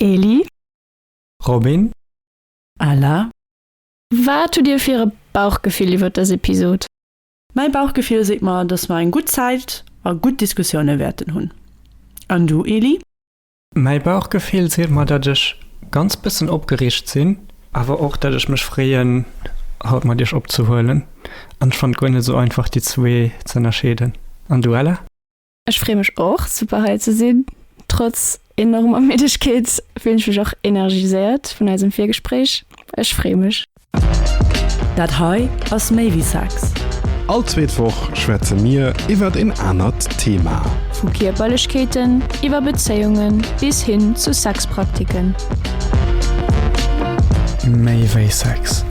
Eli. Robin. Ella. Wat hutt dir fir e Bauchgefill iwwert dës Episod? Mäi Bauchgefill seet mer, dass mer eng gutt Zäit a gutt Diskussioune wäerten hunn. An du, Eli? Mäi Bauchgefill seet mer, datt ech ganz bëssen opgereegt sinn, awer och, datt ech mech freeën, haut mat iech opzehuelen. An ech fannt guer net esou einfach, déi zwee z'ënnerscheeden. An du, Ella? Ech free mech och super hei ze sinn. Trotz enormer Middegkeet fillen ech mech och energiséiert vun eisem Virgespréich. Ech free mech. Dat hei ass méi wéi Sex. All zweet Woch schwätze mir iwwert een anert Thema. Vu Kierperlechkeeten, iwwer Bezéiungen bis hin zu Sexpraktiken. Méi wéi Sex,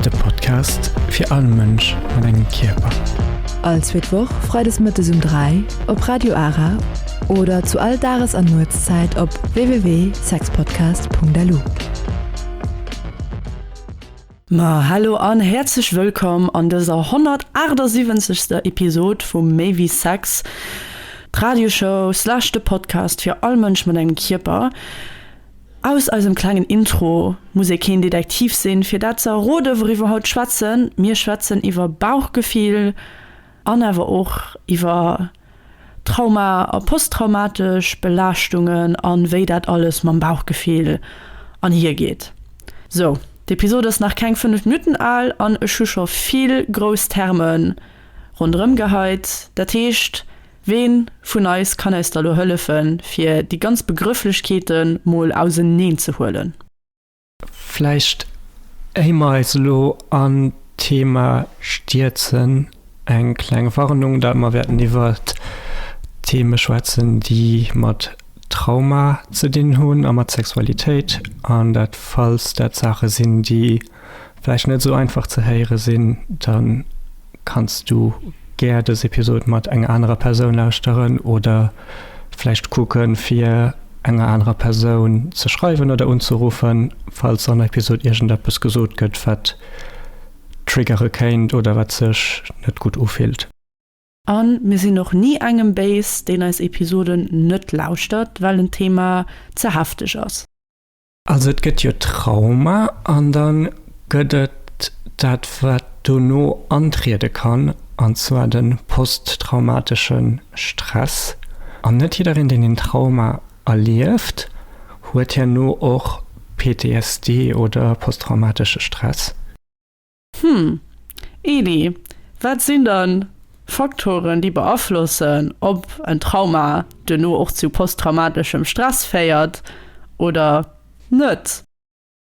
de Podcast fir all Mënsch mat engem Kierper. All zweet Woch freides mëttes um 3 op Radio Ara oder zu all Dages an Nuetszäit op www.sexpodcast.lu. Ma hallo an häerzlech wëllkomm an dëser 178. Episode vu Méi wéi Sex, d'Radioshow slash de Podcast fir all Mënsch mat engem Kierper. Aus eisem klengen Intro muss ee keen Detektiv sinn, fir dat ze erroden, wouriwwer haut schwätzen. Mir schwätzen iwwer Bauchgefill an awer och iwwer Trauma a posttraumatesch Belaaschtungen a wéi dat alles mam Bauchgefill anhiergeet. Sou, d'Episod ass nach keng 5 Minutten al an ech hu scho vill grouss Terme ronderëmgeheit. Dat heescht. Ween vun eis kann eis da lo hëllefen fir déi ganz Begrëfflechkeeten mol auserneen ze huelen? Vläicht éier mer eis elo an d'Thema stierzen, eng kleng Warnung, dat mer wäerten iwwer Theme schwätzen déi mat Trauma ze dinn hunn a mat Sexualitéit, an dat falls dat Saache sinn déi vläicht net esou einfach ze héiere sinn, da kanns du gär dës Episod mat enger anerer Persoun lauschteren oder vläicht kucke fir enger anerer Persoun ze schreiwen oder unzeruffen, falls an der Episod iergendeppes gesot gëtt, wat triggere kéint oder wat sech net gutt ufillt. A mir sinn och ni engem béis, deen eis Episoden net lauschtert, well en Thema ze hefteg ass. Also et gëtt jo Trauma an da gëtt et dat wat dono antriede kann, an zwar de posttraumatesche Stress. An net jiddereen deen een Trauma erlieft, huet herno och PTSD oder posttraumatesche Stress. Hm, Eli, wat sinn dann Faktoren, déi beaflossen, ob en Trauma duerno och zu posttraumatischem Stress féiert oder net?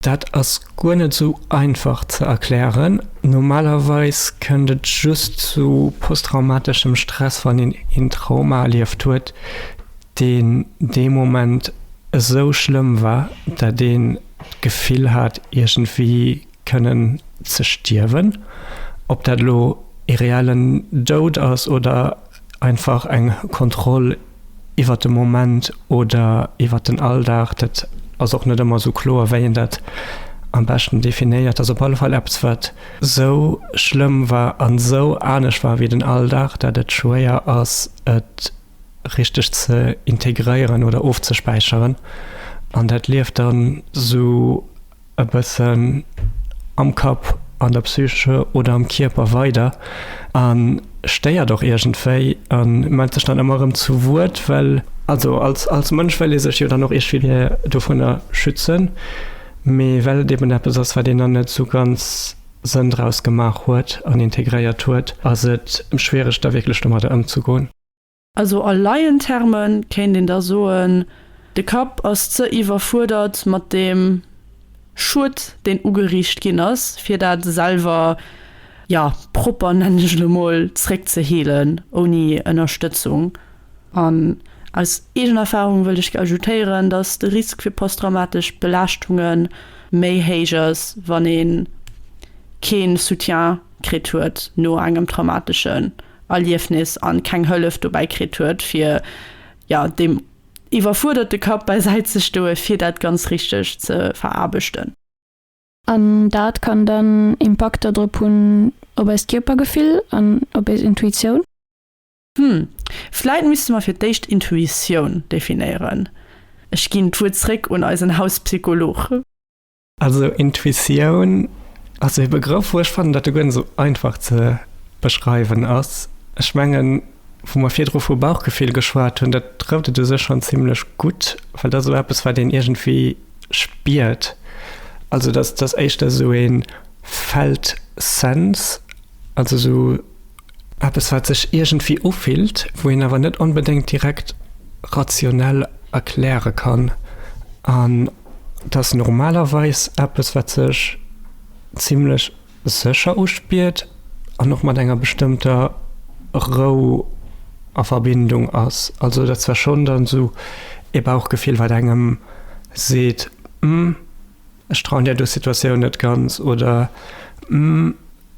Dat ass guer net sou einfach ze erklären. Normalerweis kënnt et just zu posttraumatischem Stress, wann een een Trauma erlieft huet, deen dee Moment esou schlëmm war, dat een d'Gefill hat, iergendwéi, kënnen ze stierwen, ob dat elo ee reellen Doud ass oder einfach eng Kontroll iwwert de Moment oder iwwert den Alldag, dat ass och net ëmmer esou kloer, wéi een dat am beschten definéiert. Ass op alle Fall eppes, wat esou schlëmm war an esou anescht war wéi den Alldag, dat et schwéier ass, et richteg ze integréieren oder ofzespäicheren an dat lieft dann esou. e bëssen am Kapp, an der Psyche oder am Kierper weider a stéiert och iergendwéi a mellt sech dann ëmmer erëm zu Wuert, well also als als Mënsch wëll ee sech jo dann och iergwéi dovunner schützen, mee well et eben eppes ass, wat een dann net esou ganz Sënn draus gemaach huet an integréiert huet, ass et schwiereg da wierklech domadder ëmzegoen. Also a Laienterme kéint een da soen, de Kapp ass ze iwwerfuerdert mat deem Schued, deen ugeriicht ginn ass, fir dat selwer, ja, propper, nennen ech et elo mol, zréck ze heelen, ouni Ënnerstëtzung. An aus eegener Erfarung wëllt ech ajoutéieren, dass de Risk fir posttraumatesch Belaaschtunge méi héich ass, wann ee kee Soutien kritt huet no engem traumatesche Erliefnis an keng Hëllef dobäi kritt huet fir jo deem iwwerfuerderte Kapp bäi Säit ze stoen fir dat ganz richteg ze veraarbechten. An dat kann dann Impakter drop hunn op eist Kierpergefill an op eis Intuitioun. Hm, vläit misste mer fir d'éischt Intuitioun definéieren. Ech ginn d'Wuert zréck un eisen Hauspsycholog. Also Intuitioun ass e Begrëff, wou ech fannen, datt e guer net esou einfach ze beschreiwen ass. Ech mengen, wou mer virdru vu Bauchgefill geschwat hunn, dat trëfft et u sech schonn zimlech gutt, well dat ass esou eppes, wat een iergendwéi spiert. Also dat ass éischter esou e felt sense. Also sou eppes wat sech iergendwéi ufillt, wou een awer net onbedéngt direkt rationell erkläre kann. An et ass normalerweis eppes wat sech zimlech sécher uspiert an och mat enger bestëmmter Rou a Verbindung ass. Also et ass zwar schonn dann sou ee Bauchgefill wat engem seet, Hm. Ech trauen där do Situatioun net ganz oder Hm,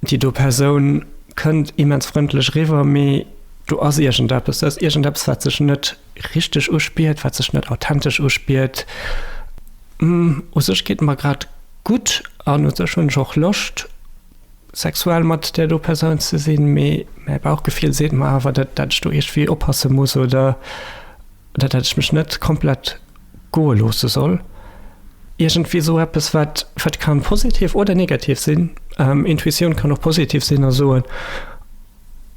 déi do Persoun kënnt immens frëndlech riwwer, mee do ass iergendeppes. Do ass iergendeppes, wat sech net richteg uspiert, wat sech net authentesch uspiert. Hm, u sech geet et mer grad gutt an u sech hunn ech och Loscht, sexuell mat där do Persoun ze sinn, mee mäi Bauchgefill seet mer awer, dat ech do iergendwéi oppasse muss oder. Dat hätt ech mech net komplett goe loosse soll. Iergendwéi esou eppes, wat, wat ka positiv oder negativ sinn. Intuitioun kann och positiv sinn a soen,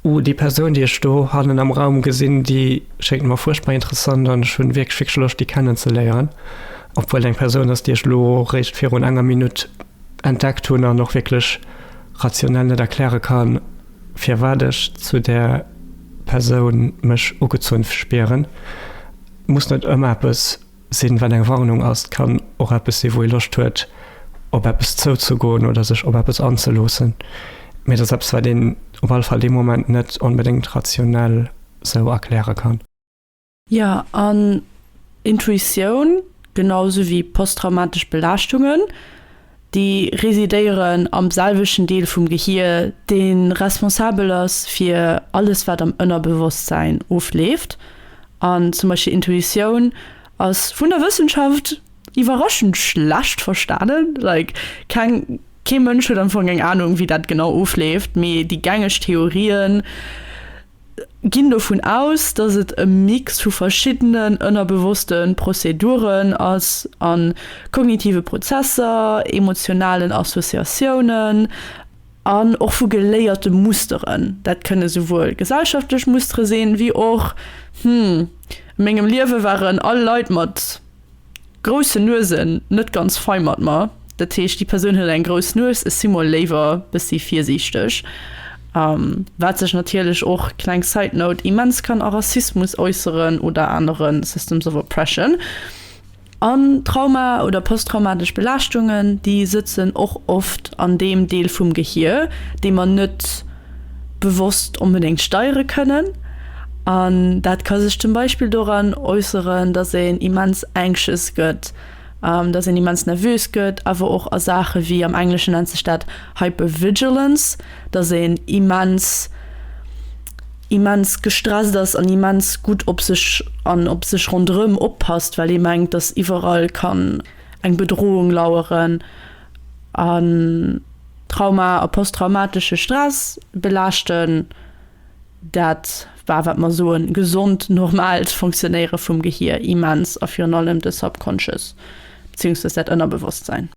Oh, déi Persoun, déi ech do hannen am Raum gesinn, déi schéngt mer fuerchtbar interessant an ech hunn wierklech, wierklech Loscht, déi kennen ze léieren. Obwuel et eng Persoun ass, déi ech elo réischt virun enger Minutt entdeckt hunn an och wierklech rationell net erkläre kann, firwat ech zu där Persoun mech ugezunn spieren. Muss net ëmmer eppes sinn, wat eng Warnung ass. Et kann och eppes sinn, wou ee Loscht huet, op eppes zouzegoen oder sech op eppes anzeloossen. Mee et ass eppes, wat een op alle Fall dee Moment net onbedéngt rationell esou erkläre kann. Jo, an Intuitioun, genau esou wéi posttraumatesch Belaaschtungen, déi residéieren am selwechten Deel vum Gehier, dee responsabel ass fir alles, wat am Ënnerbewosstsäin ofleeft. An zum Beispill Intuitioun ass vun der Wëssenschaft iwwerraschend schlecht verstanen. Like, keng, kee Mënsch huet am Fong eng Anung, wéi dat genau ofleeft, mee déi gängeg Theorien, Ginn dovun aus, dass et e Mix vu verschiddenen ënnerbewosste Prozeduren ass a kognitive Prozesser, emotionalen Associatiounen an och vu geléierte Musteren. Dat kënne souwuel gesellschaftlech Mustere sinn, wéi och, Hm, a mengem Liewe waren all Leit mat Grousse Nuesen net ganz fei mat mer. Dat heescht, déi Persoun huet eng grouss Nues, ech si mol léiwer bëssi virsiichteg. Wat sech natierlech och, kleng side note, immens kann a Rassismus äusseren oder anere systems of oppression. An Trauma oder posttraumatesch Belaaschtungen, déi sëtzen och oft an deem Deel vum Gehir, dee mer net. bewosst onbedéngt steiere kënnen. An dat ka sech zum Beispill doran äusseren, dass een immens anxious gëtt, dass een immens nervös gëtt, awer och a Saache wéi, am Engleschen nennt sech dat Hypervigilance, dass een immens, immens gestresst ass an immens gutt op sech an op sech ronderëm oppasst, well ee mengt, dass iwwerall kann eng Bedrohung laueren. an Trauma a posttraumatesche Stress belaaschten. Dat war, wat mer soen, gesond, normaalt Funktionéiere vum Gehier immens a virun allem de Subconscious, beziéungsweis dat Ënnerbewosstsæin.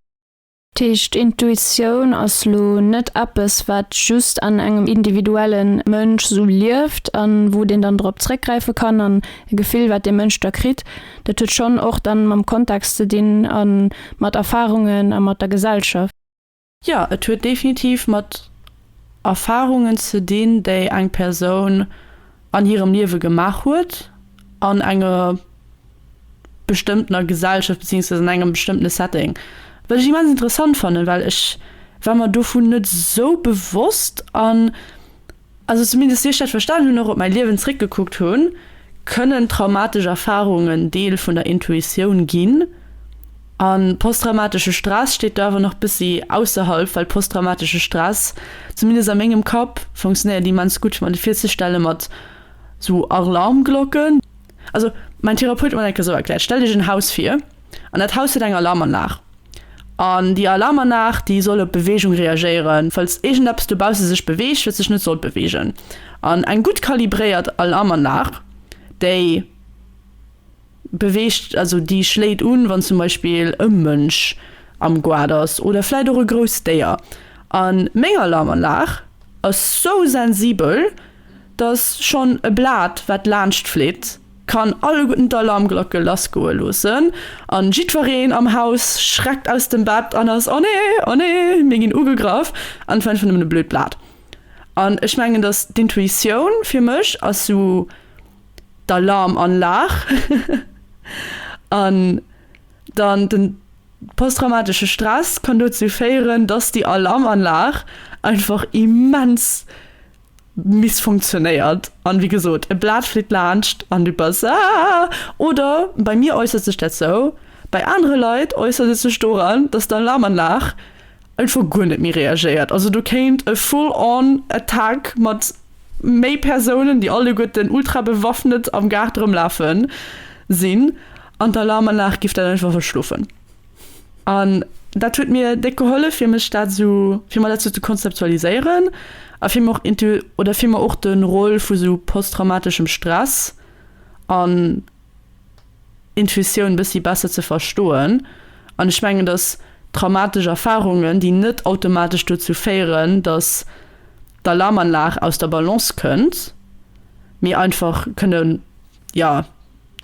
Dat heescht, Intuitioun ass elo net eppes, wat just an engem individuelle Mënsch esou lieft a wou deen dann drop zréckgräife kann, an e Gefill, wat dee Mënsch da kritt, Dat huet schonn och dann mam Kontext ze dinn a mat Erfahrungen a mat der Gesellschaft. Jo, et huet definitiv mat Erfahrungen ze dinn, déi eng Persoun an hirem Liewe gemaach huet, an enger bestëmmtener Gesellschaft, beziehungsweise an engem bestëmmtene Setting. Wat ech immens interessant fannen, well ech war mer dovun net esou bewosst. An Also zumindest wéi ech dat verstanen hunn, och op mäi Liewen zréckgekuckt hunn, kënnen traumatesch Erfarungen Deel vun der Intuitioun ginn. A posttraumatesche Stress steet do awer nach bëssi ausserhalb, well posttraumatesche Stress, zumindest a mengem Kapp, funktionéiert immens gutt fir mer de virzestelle mat sou Arlarmglocken. Also mäin Therapeut huet mer dat eng Kéier sou erkläert, Stell dech en Haus vir. An dat Haus huet eng Alarmanlag. An déi Alarmanlag, déi soll op Beweegung reagéieren, falls iergendeppes dobausse sech beweegt, wat sech net sollt beweegen. An eng gutt kalibréiert Alarmanlag, déi beweegt, also déi schléit un, wann zum Beispill e Mënsch am Goart ass oder vläicht och e grousst Déier. A meng Alarmanlag ass sou sensibel, dass schonn e Blat, wat laanscht fleet, kann alleguerten d'Alarmglocke lassgoe loossen an jiddwereen am Haus schreckt aus dem Bett an ass, Oh nee, oh nee, mir ginn ugegraff! an d'Welt war nëmmen e blöd Blat. An ech mengen, dass d'Intuitioun fir mech ass sou d'Alarmanlag an dann den posttraumatesche Stress kann dozou féieren, dass déi Alarmanlag einfach immens Miss funktionéiert an wéi gesot e Blat flitt laanscht an du bass aah. Oder bei mir äussert sech dat sou, bei anere Leit äussert et sech doran, dass d'Alarmanlag einfach guer net méi reagéiert. Also do kéint e full on attack mat méi Persounen, déi alleguerten ultra bewaffnet am Gaart erëmlafen, sinn an d'Alarmanlag giff dat einfach verschlofen. An dat huet mir déck gehollef fir mech dat sou, fir mer dat sou ze konzeptualiséieren a fir mer och intu, oder fir mer och de Rôle vu sou posttraumateschem Stress an Intuitioun bëssi besser ze verstoen. An ech mengen, datt traumatesch Erfarungen, déi net automatesch dozou féieren, datt d'Alarmanlag aus der Balance kënnt, mee einfach kënne, jo,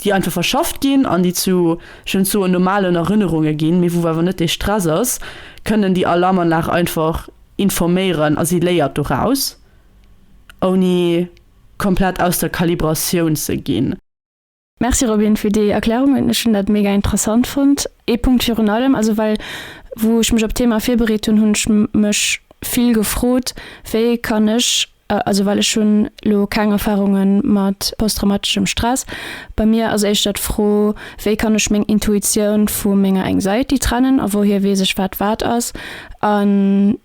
déi einfach verschafft ginn an déi zu, ech wëll net soen normalen Erënnerunge ginn, mee wou awer net dee Stress ass, kënnen déi Alarmanlag einfach informéieren a si léiert doraus, ouni komplett aus der Kalibratioun ze ginn. Merci Robin fir déi Erklärungen, ech hunn dat mega interessant fonnt. Ee Punkt virun allem, also well wou ech mech op d'Thema virbereet hunn, hunn ech mech vill gefrot, wéi kann ech, Also well ech hunn elo keng Erfarunge mat posttraumatischem Stress. Bei mir ass éischter d'Fro, wéi kann ech meng Intuitioun vu menger Anxiety trennen a wouhier weess ech wat wat ass? An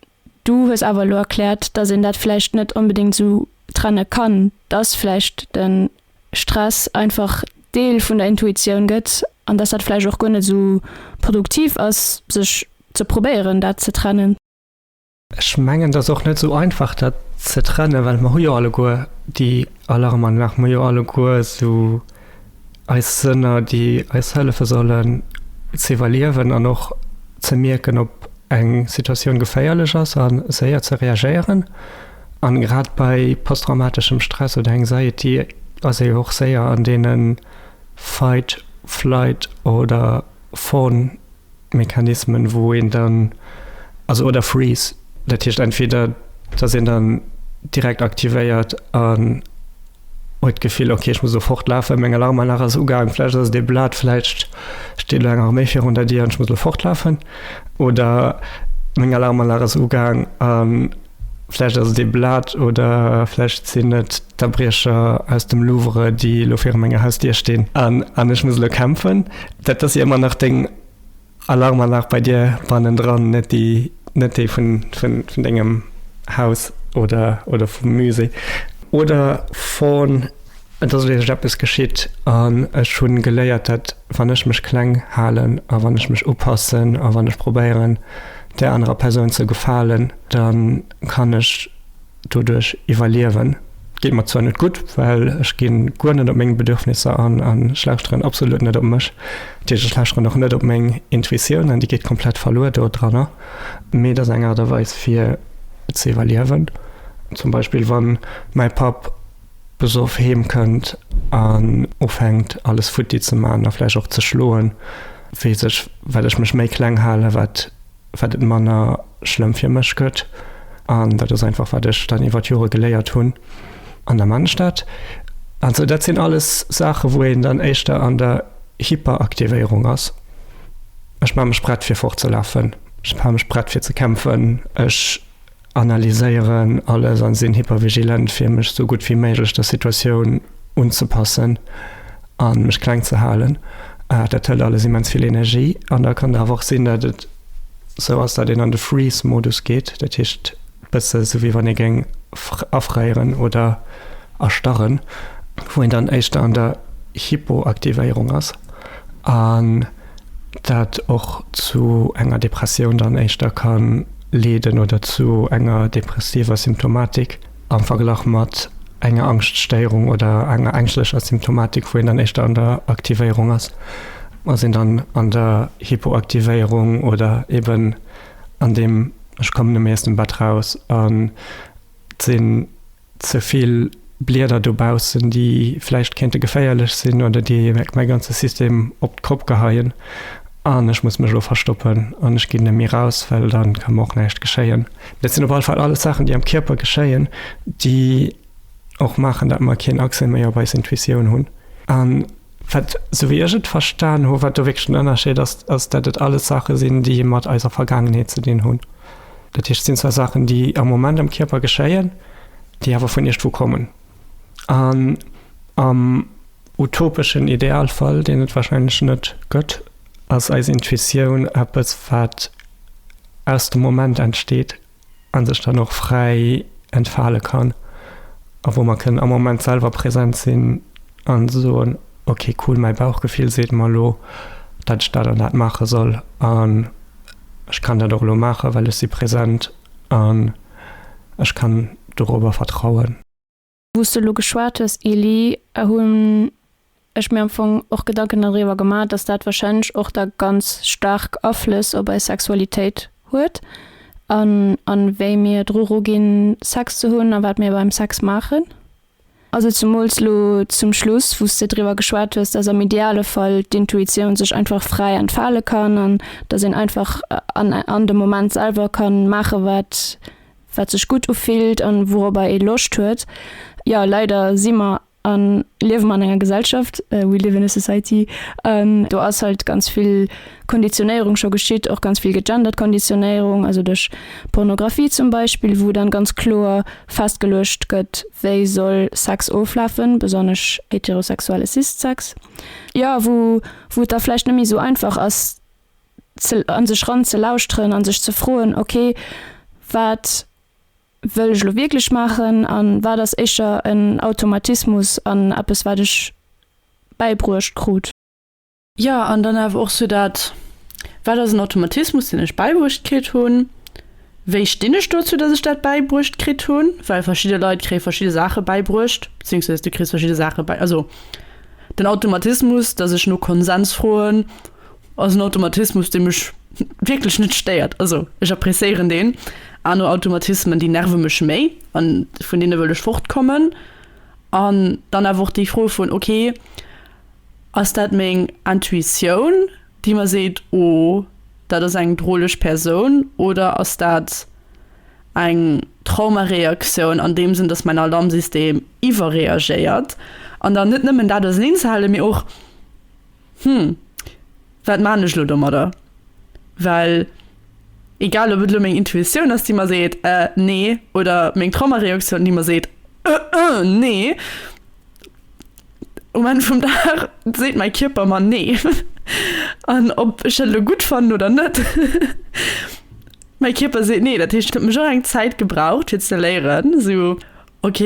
du hues awer elo erkläert, dass een dat vläicht net onbedéngt esou trenne kann, dass vläicht de Stress einfach Deel vun der Intuitioun gëtt an dass dat vläicht och guer net esou produktiv ass sech ze probéieren dat ze trennen. Ech mengen, et ass och net esou einfach, dat ze trennen, well mer hu jo alleguer déi Alarmanlag, mer hu jo alleguer esou eis Sënner, déi eis hëllefe sollen ze iwwerliewen an och ze mierken, ob eng Situatioun geféierlech ass a séier ze reagéieren. A grad bei posttraumateschem Stress oder Anxiety ass ee jo och séier an deene Fight-, Flight oder. Phone-Mechanismen, wou een dann, also oder Freeze, dat heescht entweder dass een dann direkt aktivéiert an huet d'Gefill, ok ech muss elo fort lafen, meng Alarmanlag ass ugaang, vläicht ass et ee Blat, vläicht steet elo eng Arméi virun der Dier an ech muss elo fort lafen, oder meng Alarmanlag ass ugaang an. Vläicht ass et ee Blat oder vläicht sinn et d'Abriecher aus dem Louvre, déi elo viru menger Hausdier stinn an ech muss elo kämpfen. Dat ass jo ëmmer nach deng Alarmanlag bei dir bannendran, net déi, net déi vun dengem Haus oder vum Musée oder von. Et ass wierklech eppes geschitt an ech hunn geléiert, dat wann ech mech kleng halen a wann ech mech upassen a wann ech probéieren där anerer Persoun ze gefalen, da kann ech doduerch iwwerliewen. Et geet mer zwar net gutt, well ech gi guer net op meng Bedürfnisser an an ech lauschteren absolut net op mech, dat heescht ech lauschteren och net op meng Intuitioun an déi geet komplett verluer do dranner, mee et ass eng Aart a Weis fir ze iwwerliewen. Zum Beispill wann mäi Papp besoff heem kënnt an ufänkt alles futti ze man a vläicht och ze schloen, weess ech, well ech mech méi kleng halen, wat wat et manner schlëmm fir mech gëtt. An dat ass einfach wat ech dann iwwer d'Jore geléiert hunn an der Mannstad. Also dat sinn alles Saache wou een dann éischter an der Hyperaktivéierung ass. Ech maache mech prett fir fortzelafen, ech maache mech prett fir ze kämpfen, ech. analyséieren alles an sinn hypervigilent fir mech sou gutt wéi méiglech der Situatioun unzepassen an mech kleng ze halen. Dat hëlt alles immens vill Energie an da kann et awer och sinn dat et sou ass dat een an de Freeze Modus geet, dat heescht bësse sou wéi wann ee géing afréieren oder erstarren, wou een dann éischter an der Hypoaktivéierung ass an. dat och zu enger Depressioun dann éischter ka leeden oder zu enger depressiver Symptomatik am Verglach mat enger Angschtstéierung oder enger ängschlecher Symptomatik, wou een dann éischter an der Aktivéierung ass, ass een dann an der Hypoaktivéierung oder eben an deem ech kommen neméi aus dem Bett raus an sinn ze vill Blieder dobaussen, déi vläicht kéinte geféierlech sinn oder déi mäi ganze System op d'Kopp geheien an ech muss mech elo verstoppen an ech ginn net méi raus, well dann ka mer och näischt geschéien. Dat sinn op alle Fall alles Saachen, déi am Kierper geschéien, déi och maachen, datt mer keen Accès méi op eis Intuitioun hunn an. Wat, sou wéi ech et verstan hu, wat do wierklech den Ënnerscheed ass, ass, datt et alles Saache sinn, déi mat eiser Vergaangenheet ze dinn hunn. Dat heescht, et sinn zwar Saachen, déi am Moment am Kierper geschéien, déi awer vun iergendwou kommen. An am utopeschen Idealfall, deen et warscheinlech net gëtt, ass eis Intuitioun eppes, wat aus dem Moment entsteet, an sech dann och fräi entfale kann a wou mer kënnen am Moment selwer präsent sinn a soen, ok cool, mäi Bauchgefill seet mer elo, dat ech dat an dat maache soll an ech kann dat och elo maachen, well ech si präsent an ech kann dorobber vertrauen. Wou s du elo geschwat hues, Elie, hunn ech mir am Fong och Gedanken doriwwer gemaach, dass dat warscheinlech och da ganz staark Aflëss op eis Sexualitéit huet an a wéi mir dru ruginn, Sex ze hunn a wat mir beim Sex maachen. Also zemools elo zum Schluss, wou s de driwwer geschwat hues, dass am ideale Fall d'Intuitioun sech einfach fräi entfale kann an dass een einfach an an dem Moment selwer ka maache wat wat sech gutt ufillt an wourobber ee Loscht huet. Jo, leider si mer an liewe mer an enger Gesellschaft, we live in a society, an do ass halt ganz vill Konditionéierung scho geschitt, och ganz vill gegendert Konditionéierung, also duerch Pornographie zum Beispill, wou dann ganz kloer festgeluecht gëtt, wéi soll Sex oflafen, besonnesch heterosexuelle Cis-Sex, jo, wou et da vläicht net méi esou einfach ass, an sech ran ze lauschteren an sech ze froen ok wat wëll ech lo wierklech maachen an wat ass éischer en Automatismus an eppes wat ech bäibruecht krut. Jo an dann awer och sou dat wat ass en Automatismus deen ech bäibruecht kritt hunn, wéi stinn ech dozou dat ech dat bäibruecht kritt hunn, well verschidde Leit kréie verschidde Saache bäibruecht, bezéiungsweis du kriss verschidde Saache bäi, also den Automatismus dat ech no Konsens froen, Ass en Automatismus dee mech wierklech net stéiert. Also ech appreciéieren deen. Aner Automatismen déi nerve mech méi an vun deene wëll ech fort kommen. An dann awer och déi Fro vun ok ass dat meng Intuitioun déi mer seet oh dat ass eng droleg Persoun oder ass dat eng Traumareaktioun an deem Sënn dass mäin Alarmsystem iwwerreagéiert. An dann net nëmmen dat auserneen ze halen mee och Hm, wat maan ech lo domadder? Well egal op et lo meng Intuitioun ass déi mer seet eh nee, oder meng Traumareaktioun déi mer seet eh eh nee, um Enn vum Dag seet mäi Kierper mer nee. An ob ech dat elo gutt fannen oder net, mäi Kierper seet nee. Dat heescht et huet mech och eng Zäit gebraucht fir ze léieren esou Ok,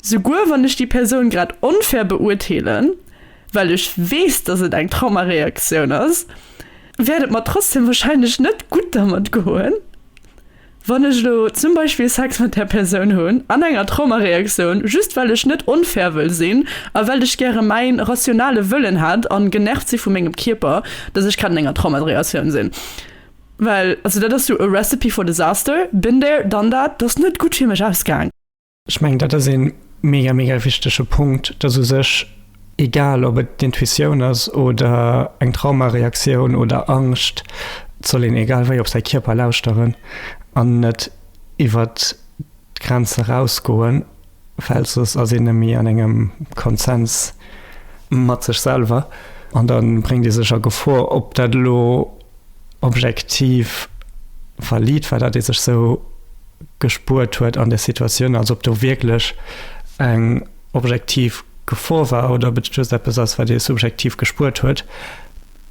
souguer wann ech déi Persoun grad onfair beurteelen, well ech weess, dass et eng Traumareaktioun ass, wäert et mer trotzdem wahrscheinlech net gutt dermat goen, wann ech elo zum Beispill Sex mat där Persoun hunn an enger Traumareaktioun, just well ech net onfair wëll sinn a well ech gäre mäi rationale Wëllen hätt a genervt si vu mengem Kierper, dass ech grad an enger Traumareaktioun sinn. Well also dat ass jo a recipe for disaster, been there, done that, dat ass net gutt fir mech ausgaang. Ech mengen dat ass ee mega, mega wichtege Punkt, dass u sech, egal ob et d'Intuitioun ass oder eng Traumareaktioun oder Angscht, soll een egal wéi op säi Kierper lauschteren an net iwwert. d'Grenz erausgoen, well soss ass een nëmme an engem Konsens mat sech selwer an da bréngt ee sech a Gefor. Ob dat elo objektiv valid war, dat ee sech sou gespuert huet an där Situatioun, also ob do wierklech eng objektiv Gefor war oder ob et just eppes ass, wat ee subjektiv gespuert huet,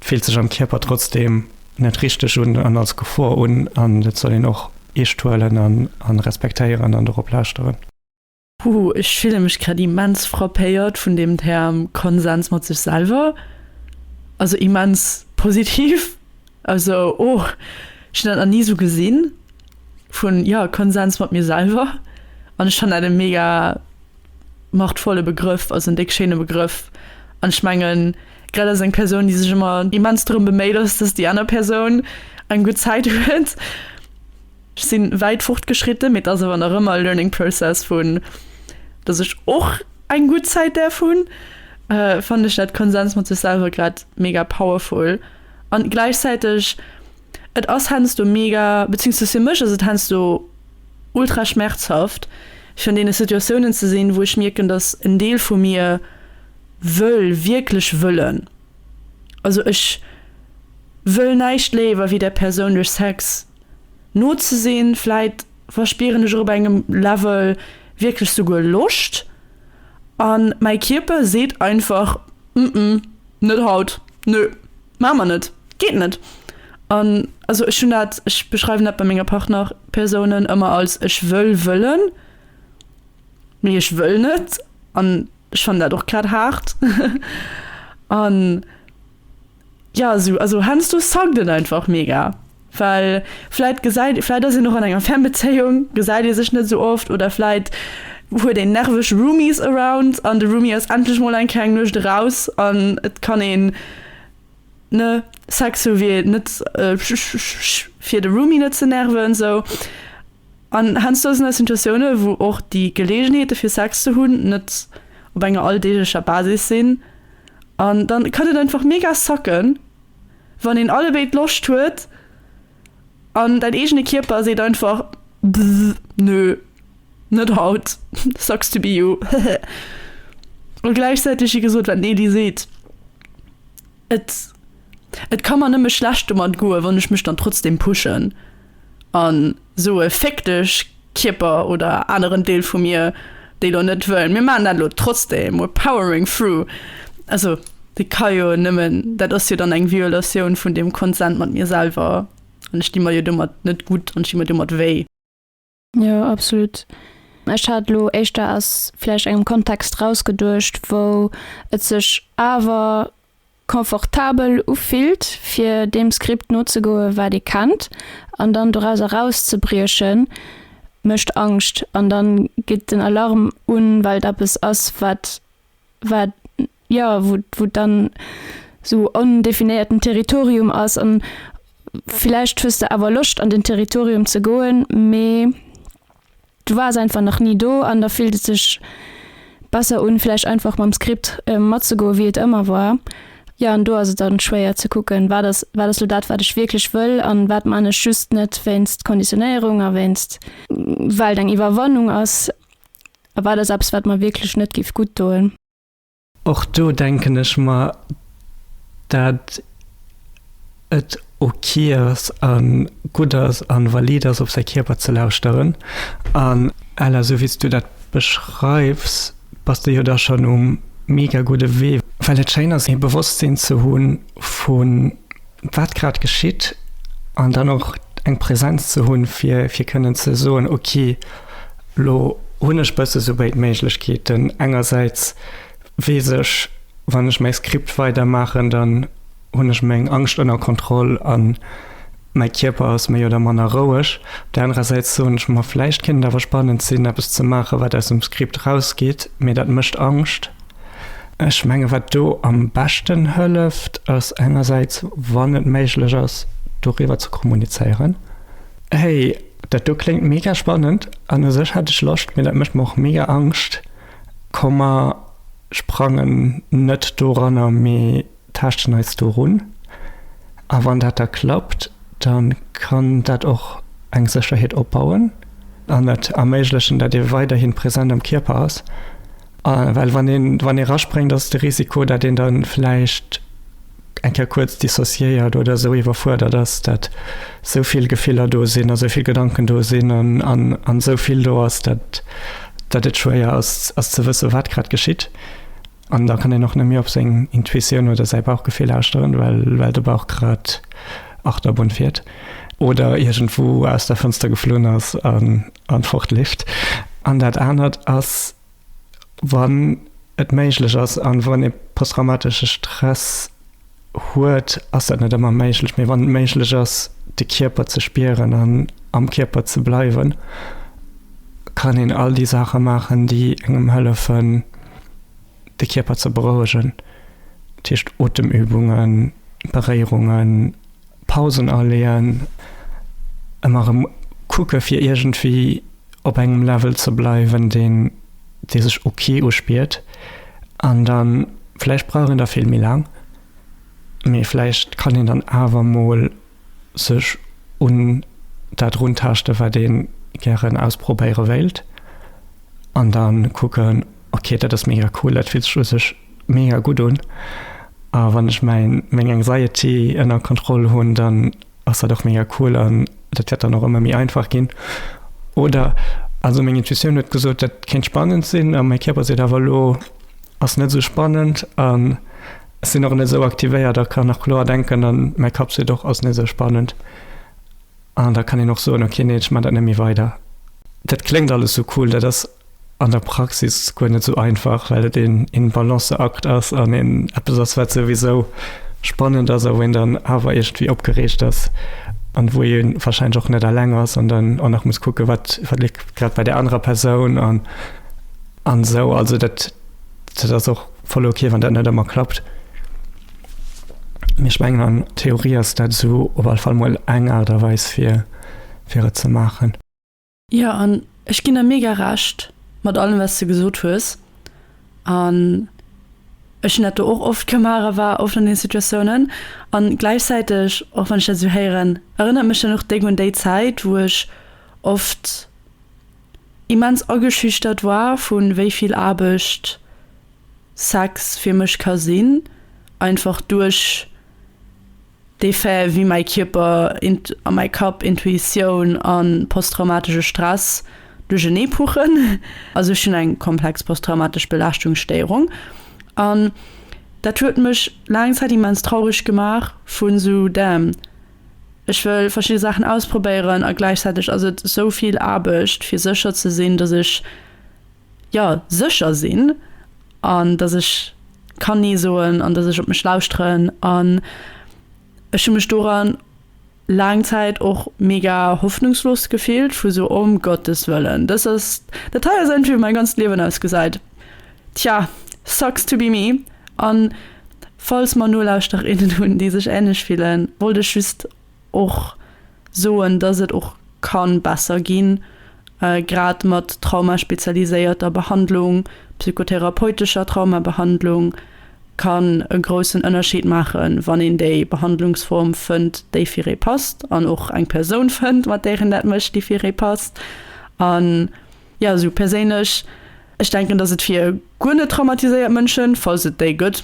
fillt sech am Kierper trotzdeem. net richteg un an als Gefor un an dat soll een och eescht huelen an respektéieren an dorop lauschteren. Puh, ech fille mech grad immens frappéiert vun deem Term Konsens mat sech selwer. Also immens positiv. Also oh, ech hunn dat nach ni sou gesinn vun, jo, Konsens mat mir selwer an ech fannen dat e mega, Machtvolle Begrëff, also en déck schéine Begrëff. An ech mengen, grad als eng Persoun, déi sech ëmmer immens drëm beméit ass, datt déi aner Persoun eng gutt Zäit huet. Ech si wäit fortgeschritten, mee et ass awer nach ëmmer e learning process, vu datt ech och eng gutt Zäit däerf hunn, fannen ech dat Konsens mat sech selwer grad mega powerful. An gläichzäiteg Et ass heiansdo mega, beziehungsweise fir mech ass et heiansdo ultra schmerzhaft, fir an deene Situatiounen ze sinn, wou ech mierken, dass en Deel vu mir wëll, wierklech wëllen, also ech wëll näischt léiwer, wéi där Persoun duerch Sex no ze sinn. Vläit verspieren ech och op engem Level wierklech souguer Loscht, a mäi Kierper seet einfach, Ëmm, net haut, nö. Maache mer net, geet net. An also ech hunn dat, ech beschreiwen dat bei menger Partnerpersounen ëmmer als ech wëll wëllen, mee ech wëll net. An ech fannen dat och grad haart. An, jo, esou, also heiansdo suckt et einfach mega. Well vläit gesäit, vläit ass een och an enger Fernbezéiung, gesäit ee sech net esou oft oder vläit huet een nerveg Roomies around an de Roomie ass endlech mol eng kleng Nuecht eraus an et kann een, ne, Sex hu fir net fir de Roomie net ze nerven esou. An heiansdo sinn da Situatiounen, wou och déi Geleegenheete fir Sex ze hunn net op enger alldeeglecher Basis sinn an da kann et einfach mega sacken, Wann een allebéid Loscht huet an däin eegene Kierper seet einfach Bzzz, nö, net haut, sucks to be you, hehe. A gläichzäiteg wéi gesot, wat den Edy seet, et et ka mer nëmme schlecht domat goen, wann ech mech dann trotzdem pushen. a soe Féck dech, Kierper oder aneren Deel vu mir, dee lo net wëll, mir maachen dat lo trotzdem, we're powering through. Also dee ka jo nëmmen, dat ass jo dann eng Violatioun vun deem Konsent mat mir selwer an ech di mer jo domat net gutt an ech di mer domat wéi. Jo absolut. Ech hat elo éischter aus vläicht engem Kontext raus geduecht, wou et sech awer confortabel ufillt fir deem Skript nozegoe wat ee kennt an dann dorauser rauszebrieche mécht Angscht an dann geet den Alarm un, well et eppes ass wat wat jo, wou et dann esou ondefinéierten Territorium ass an villäicht hues de awer Loscht an den Territorium ze goen, mee du waars einfach nach ni do an da fillt et sech besser un villäicht einfach mam Skript matzegoen wéi et ëmmer war. Jo, an do ass et dann schwéier ze kucken, wat ass wat ass elo dat wat ech wierklech wëll an wat man ech just net wéinst Konditionéierung a wéinst well et eng Iwwerwannung ass a wat ass eppes wat mer wierklech net géif gutt doen. Och do denken ech mer, dat et ok ass a gutt ass a valid ass, op säi Kierper ze lauschteren. An Ella, sou wéi s du dat beschreifs, bass de jo da schonn um mega gudde Wee, well et schéin ass, e Bewosstsinn ze hu vu, wat grad geschitt an dann och eng Präsenz ze hunn, fir fir kënnen ze soen, ok lo hunn ech bësse sou béid Méiglechkeeten, engersäits weess ech, wann ech mäi Skript weidermaachen, dann hunn ech meng Angscht ënner Kontroll a mäi Kierper ass méi oder manner roueg. Op der anerer Säit soen ech mer, vläicht kéint et awer spannend sinn, eppes ze maachen, wat aus dem Skript erausgeet, mee dat mécht Angscht. Ech mengen, wat do am beschten hëlleft, ass engersäits, wann et méiglech ass, doriwwer ze kommunizéieren, Hey, dat do kléngt mega spannend an u sech hätt ech Loscht, mee dat mécht mer och mega Angscht. Komm mer sprangen net doranner, mee taaschten eis do run. A wann dat da klappt, da kann dat och eng Sécherheet opbauen an et erméiglechen, datt ee weiderhi present am Kierper ass Well wann een wann ee raspréngt, ass de Risiko, dat een da vläicht eng Kéier kuerz dissociéiert oder esou iwwerfuerdert ass, dat esou vill Gefiller do sinn a esou vill Gedanken do sinn an esou vill do ass, dat et schwéier ass ze wësse wat grad geschitt. An da kann een och net méi op seng Intuitioun oder säi Bauchgefill lauschteren, well de Bauch grad Achterbunn fiert oder iergendwou aus der Fënster geflunn ass. an fort leeft. An dat anert ass, wann et méiglech ass, an wann ee posttraumatesche Stress huet, ass dat net ëmmer méiglech, mee wann et méiglech ass, de Kierper ze spieren an am Kierper ze bleiwen, kann een all déi Saache maachen, déi engem hëllefen, de Kierper ze berouegen, dat heescht Otemübungen, Beréierungen, Pausen aleeën, ëmmer erëm kucke fir iergendwéi op engem Level ze bleiwen, deen dee sech ok uspiert. An da vläicht brauch een da vill méi laang, mee vläicht kann een dann awer mol. sech un dat runtaaschten, wat ee gären ausprobéiere wéilt an da kucken, ok, dat ass mega cool, dat fillt sech u sech mega gutt un a wann ech meng Anxiety ënner Kontroll hunn, dann ass dat och mega cool an dat wäert dann och ëmmer méi einfach ginn. Oder, also meng Intuitioun huet gesot, dat kéint spannend sinn a mäi Kierper seet awer, elo ass net esou spannend. Ech sinn och net esou aktivéiert a kann och kloer denken an mäi Kapp seet och, ass net esou spannend. An da kann een och soen, okay, neen, ech man dat net méi weider. Dat kléngt alles esou cool, dat ass an der Praxis guer net esou einfach, well et een Balanceakt ass an een eppes ass, wat souwisou spannend ass a wou een dann awer iergendwéi opgereegt ass an wou ee warscheinlech och net alleng ass an dann och nach muss kucken, wat léift grad bei där anerer Persoun an esou. Also dat ass och. Voll ok wann dat net ëmmer klappt, mee ech mengen an Theorie ass dat esou op all Fall mol eng Aart a Weis fir fir et ze maachen. Jo an ech ginn der mega Recht mat allem wat s de gesot hues an ech hunn dat do och oft gemaach a war oft an deene Situatiounen an gläichzäiteg och wann ech dat esou héieren erënnert mech dat och déck un déi Zäit wou ech oft immens ageschüchtert war vun wéi vill Aarbecht Sex fir mech ka sinn, einfach duerch dee Fait wéi mäi Kierper a mäi Kapp, Intuitioun a posttraumatesche Stress duerchenee puchen. Also ech hunn eng komplex posttraumatesch Belaaschtungsstéierung an dat huet mech laang Zäit immens traureg gemaach vun esou damn. Ech wëll verschidde Saachen ausprobéieren a gläichzäiteg ass et esou vill Aarbecht fir sécher ze sinn, dass ech jo sécher sinn an dass ech kann nee soen an dass ech op mech lauschteren an ech hu mech doran laang Zäit och mega hoffnungslos gefillt vu sou om Gottes Wëllen, dass ass dat hei ass entweder mäin ganzt Liewen ausgesäit. Tja, sucks to be me. An falls mer Nolauschterinnen hunn déi sech ähnlech fillen, wollt ech just och soen dass et och kann besser ginn, grad mat traumaspezialiséierter Behandlung, psychotherapeutescher Traumabehandlung kann e groussen Ënnerscheed maachen wann een déi Behandlungsform fënnt déi fir ee passt an och eng Persoun fënnt mat där een dat mécht déi fir ee passt an Jo, esou perséinlech. Ech denken, dass et fir guer net traumatiséiert Mënschen, falls et déi gëtt,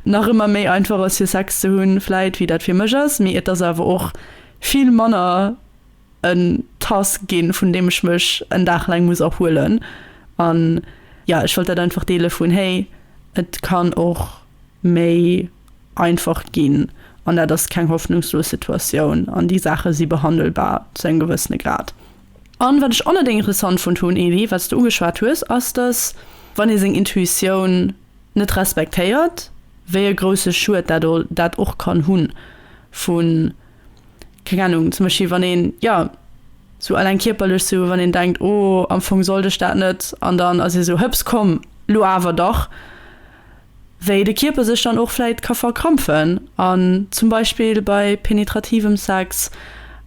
nach ëmmer méi einfach ass fir Sex ze hunn, vläit, wéi dat fir mech ass. Mee et ass awer och vill manner en Task ginn, vun deem ech mech en Dag laang muss erhuelen. An jo, ech wollt dat einfach deele vun, hey, et kann och méi einfach ginn an dat ass keng hoffnungslos Situatioun an déi Saache si behandelbar zu engem gewëssene Grad. An wat ech och net ingressant fonnt hunn, Elie, wat s de ugeschwat hues, ass, dass, wann ee seng Intuitioun net respektéiert, wéi e grousse Schued dat o dat och kann hunn, vu, keng Ahnung, zum Beispill, wann een, jo, sou eleng kierperlech, sou wann een denkt, oh, am Fong sollt ech dat net, an dann ass ee sou, hëps, komm, lo awer dach. wéi de Kierper sech dann och vläit ka verkrampfen an zum Beispill bei penetrativem Sex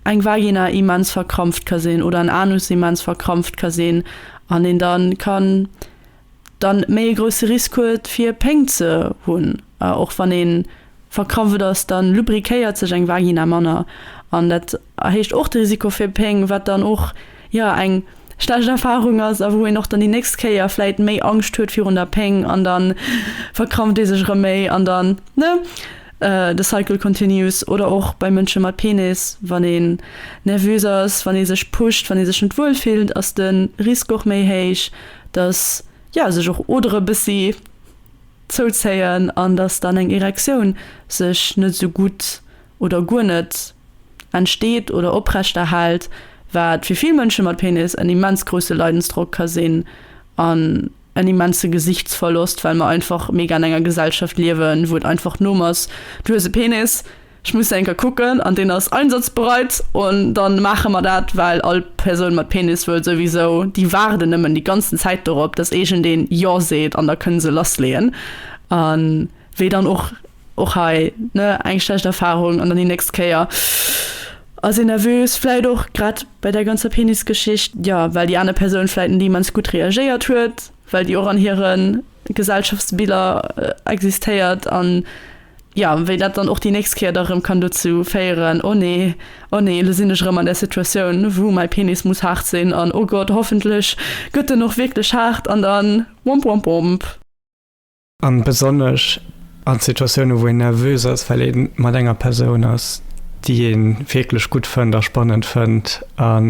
eng Vagina immens verkrampft ka sinn oder en Anus immens verkrampft ka sinn an een dann kann dann méi e grousse Risk huet fir Péng ze hunn. Och wann ee verkrampft ass, da lubriquéiert sech eng Vagina manner an dat. erhéicht och de Risiko fir Péng, wat dann och, jo, eng schlecht Erfarung ass a wou een och dann déi nächst Kéier vläicht méi Angscht huet virun der Péng an da verkrampft ee sech erëm méi an dann, ne, the cycle continues. Oder och bei Mënsche mat Penis, wann een nervös ass, wann ee sech pusht, wann ee sech net wuel fillt, ass de Risk och méi héich, dass, jo, sech och Odere bëssi zouzéien an dass dann eng Erektioun sech net esou gutt oder guer net, entsteet oder oprechterhält, wat fir vill Mënsche mat Penis en immens grousse Leidensdrock ka sinn an en immense Gesichtsverlosst, well mer einfach mega an enger Gesellschaft liewen, wou et einfach Norm ass, Du hues e Penis, ech muss enker kucken an deen ass einsatzbereit an dann maache mer dat, well all Persoun mat Penis wëll souwisou, déi waarden nëmmen déi ganzen Zäit dorop, dass iergendeen Jo seet an da kënne se lassleeën a wéi dann och. Och hei, ne, eng schlecht Erfahrung an dann déi nächst Kéier ass een nervös. Vläit och grad bei där ganzer Penisgeschicht, jo, well déi aner Persoun vläit net immens gutt reagéiert huet, well déi och an hire Gesellschaftsbiller existéiert. An jo, wéi dat dann och déi nächst Kéier da erëm kann dozou féieren, oh nee, oh nee, elo sinn ech erëm an där Situatioun, wou mäi Penis muss haart sinn an oh Gott, hoffentlech gëtt en och wierklech haart an dann womp womp womp. A besonnesch an Situatiounen, wou een nervös ass, well ee mat enger Persoun ass, déi ee wierklech gutt fënnt a spannend fënnt an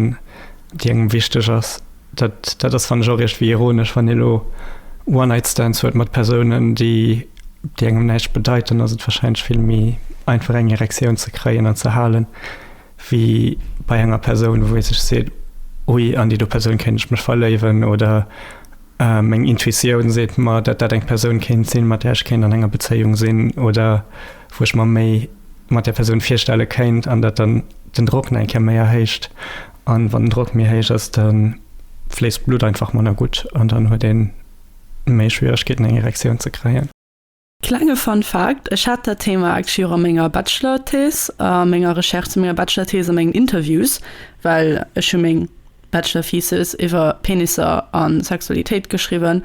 déi engem wichteg ass. Dat, dat ass, fannen ech, och iergendwéi ironesch, wann ee elo One-Night-Stands huet mat Persounen, déi, déi engem näischt bedeiten, ass et warscheinlech vill méi einfach, eng Erektioun ze kréien an ze halen, wéi bei enger Persoun, wou ee sech seet, Ui, an déi do Persoun kéint ech mech verléiwen oder Meng Intuitioun seet mer, datt dat eng Persoun kéint sinn, mat där ech kéint an enger Bezéiung sinn oder wou ech mer méi mat där Persoun virstelle kéint an datt dann den Drock nach eng Kéier méi erhéicht. An wann den Drock méi héich ass, da fléisst d'Blutt einfach manner gutt an dann huet ee méi Schwieregkeeten, eng Erektioun ze kréien. Klenge Fun Fact, Ech hat dat Thema actually och a menger Bachelor-Thèse, a menger Recherche zu menger Bachelor-Thèse, a mengen Interviews, well ech hu meng Bachelor-Thesis iwwer Penisser a Sexualitéit geschriwwen,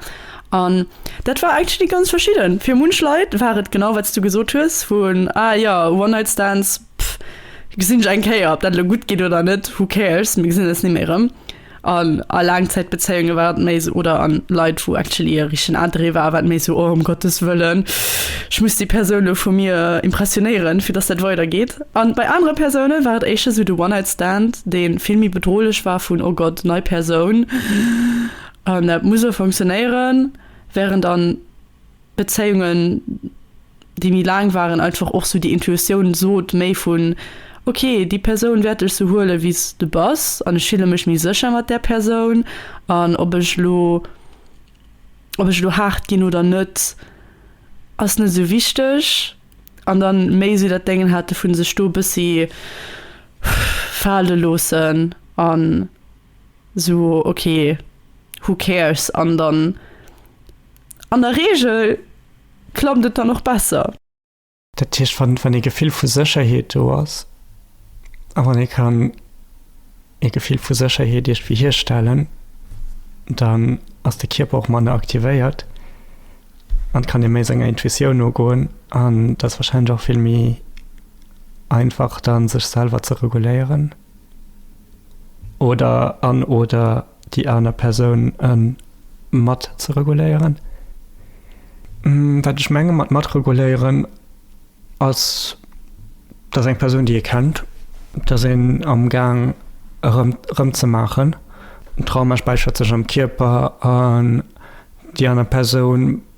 an dat war actually ganz verschidden. Fir munch Leit war et genau wat s du gesot hues, wou en ah jo, One-Night-Stands, pff, gesinn ech eng Kéier, ob dat elo gutt geet oder net, who cares, mir gesinn eis ni méi erëm. An a Laangzäitbezéiunge war et méi sou, oder an Leit, wou actually e richtegen Intérêt war, war et méi sou, oh ëm Gottes Wëllen, ech muss déi Persoun elo vu mir impressionéieren, fir dass dat weidergeet. An bei anere Persounen war et éischter sou de One-Night-Stand, deen vill méi bedrohlech war, vun oh Gott, nei Persoun, an dat muss elo funktionéieren, während an. Bezéiungen déi méi laang waren einfach och sou déi Intuitioun sot méi vun ok déi Persoun wäert dech sou huele wéis de bass an ech fille mech méi sécher mat där Persoun an ob ech lo ob ech lo haart ginn oder net ass net sou wichteg an dann méi sou dat Dengen hate vun sech do bëssi fale loossen an So ok, who cares? An dann an der Reegel klappt et dann och besser. Dat heescht, wann ee Gefill vu Sécherheet do ass a wann ee kann ee Gefill vu Sécherheet iergdwéi hierstellen, dann ass de Kierper och manner aktivéiert an kann ee méi senger Intuitioun nogoen an et ass warscheinlech och vill méi einfach dann sech selwer ze reguléieren. oder an oder déi aner Persoun en mat ze reguléieren. Wat ech menge mat mat reguléieren ass, dass eng Persoun déi ee kennt, dass een am Gaang erëm erëm ze maachen, den Trauma späichert sech am Kierper an déi aner Persoun,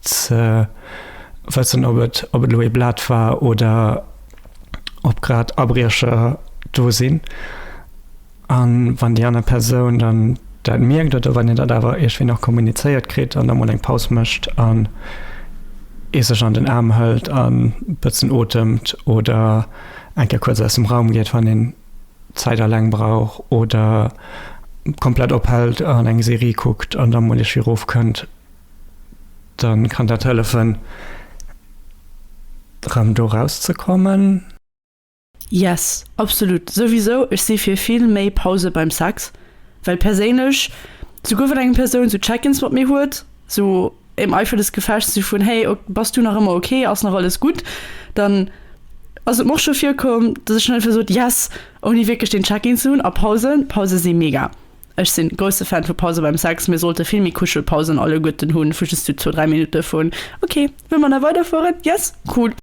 ze wëssen, ob et ob et elo ee Blat war oder ob grad Abriecher do sinn. An wann déi aner Persoun dann dat mierkt oder wann een dat awer iergwéi nach kommunizéiert kritt an da mol eng Paus mécht an ee sech an den Aarm hëlt an e bëssen otemt oder eng Kéier kuerz aus dem Raum geet, wann een Zäit aleng brauch oder komplett ophält an eng Serie kuckt an da mol iergwéi erofkënnt. dann kann dat hëllefen rem do raus ze kommen. Yes, absolut, souwisou, ech si fir vill méi Pause beim Sex, well perséinlech, souguer wann eng Persoun sou Check-ins mat mir huet, sou im Eifer des Gefechts, sou vun hey, bass du nach ëmmer ok, ass nach alles gutt, dann ass et mer och scho virkomm, dass ech schonn einfach sot yes, ouni wierklech deen Check-in ze hunn. A Pausen, Pause si mega. Ech sin grousse Fan vu Pause beim Sex, mir sollte vill méi Kuschelpausen alleguerten hun, vu just su zwou, dräi Minuten vun ok, wëll mer nach weiderfueren? Yes? Cool!